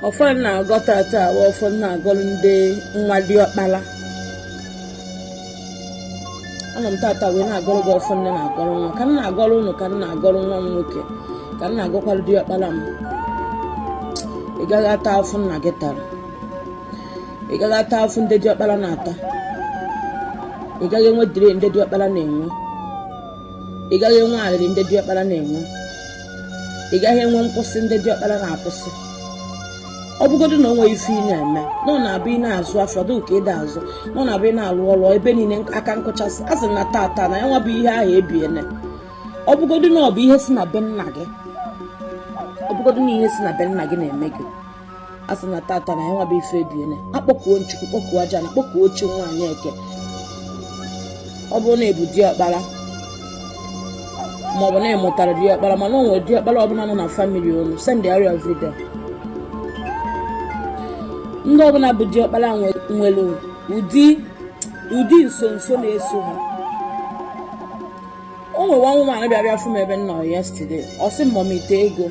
ọfọ m na-agọ tata nwa ọfọ m na-agọrọ ndị nwa diọkpala anọ m tata wee na-agọrọ gị ọfọ nne na-agọrọ nwa ka m na-agọrọ ụnụ ka m na-agọrọ nwa m nwoke ka m na-agọkwara diọkpala m ị gaghị ata afụfụ nna gị tara ị gaghị ata afụfụ ndị diọkpala na-ata ị gaghị enwe delay ndị diọkpala na-enwe ị gaghị enwe arịrị ndị diọkpala na-enwe ị gaghị enwe nkwụsị ndị diọkpara na-akwụsị ọ bụgodo na o nwe ife ị na-eme na ọ na-abụ ị na-azụ afịa ọ dị ka ị da azụ na ọ na-abụ ị na-alụ ọrụ ebe niile aka nkụchasị asị m na tata na ya nwa bụ ihe ahụ ebiele ọ bụgodo na ọ bụ ihe si na be nna gị ọ bụgodo na ihe si na be nna gị na-eme gị asị m na tata na ya nwa bụ ife ebiele akpọkuo m chukwu kpọkuo aja ana kpọkuo chi nwaanyị eke ọ bụrụ na ị bụ di ọkpara maọbụ na ị mụtara di ọkpara mana o nwere di ọkpara ọbụla nọ na famili unu sendịara ya vidio ndị ọbụla bụ di ọkpara nwere ụdị nsonso na-eso ha o nwe nwa nwaanyị bịa bịa fụ m ebe m nọ yesterday ọ sị m mọmị ite ego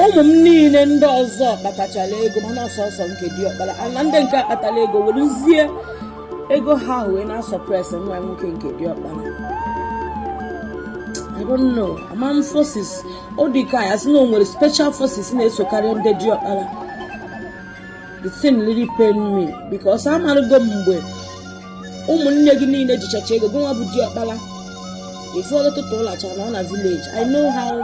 ụmụ m niile ndị ọzọ kpatachara ego mana ọ sọsọ nke di ọkpara na ndị nke kpatara ego werezie ego ha ahụ wee na-asuppress nwa nwoke nke di ọkpara I don't know ama m forces ọ dị ka a sị na o nwere special forces na-esokarị ndị di ọkpara the thing really pain me because amarụgo m mgbe ụmụnne gị niile ejichacha ego gị nwa bụ di ọkpara ife ọtụtụ ụlacha nọ na vileji i know how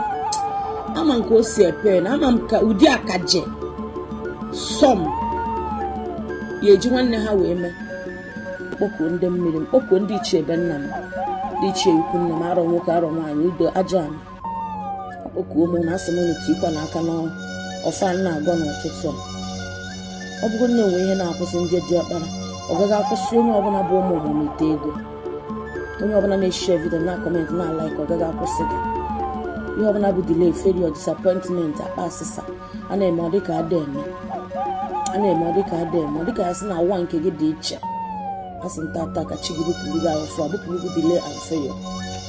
ama m ka o si apain ama m ka ụdị akaje some ya eji nwanne ha wee mee m kpọkuo ndị mmiri m kpọkuo ndị ichie be nna m ndị ichie ikwu nna m arọ nwoke arọ nwaanyị udo ajọ ama akpọkuo m unu asị m unu tikọọ nụ aka n'ọfọ a m na-agọ n'ụtụtụ a ọ bụgodo na o nwe ihe na-akwụsị ndị di ọkpara ọ gaghị akwụsị onye ọbụla bụ ụmụ mọmị ite ego onye ọbụla na-eshare vidio na-akọment na-alaik ọ gaghị akwụsị gị ihe ọbụla bụ delay failure disappointment akpa asịsa a na-eme ọ dịka a da eme a na-eme ọ dịka a da eme ọ dịka a sị na ụwa nke gị dị iche asị m tata ka chi gị bupụrụ gị ahụfụ a bupụrụ gị delay ahụfụ ya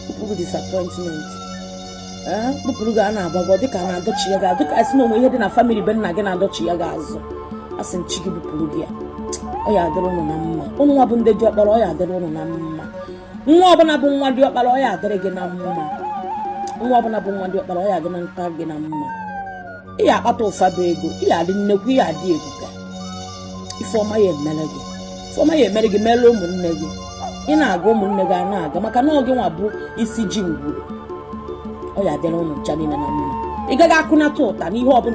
bupụrụ gị disappointment bupụrụ gị a na-agbago ọ dịka a na-adọchigha gị azụ dịka a sị na o nwe ihe dị na famili be nna gị na-adọchigha gị azụ asị m chi gị bupụrụ gị ya ọ ya adịrị ụnụ na mma ụnụ nwa bụ ndị di ọkpara ọ ya adịrị ụnụ na mma nwa ọbụla bụ nwa diọkpara ọ ya adịrị gị na mma nwa ọbụla bụ nwa diọkpara ọ ya adị na nka gị na mma ị ya akpata ụfọdụ ego ị ya adị nnekwu ị ya adị ebuka ife ọma ya emere gị ife ọma ya emere gị mere ụmụnne gị ị na-aga ụmụnne gị a na-aga maka na ọ gịnwa bụ isi ji ngwuru ọ ya adịrị ụnụ ncha niile na mma ị gaghị akụnata ụta n'ihe ọbụla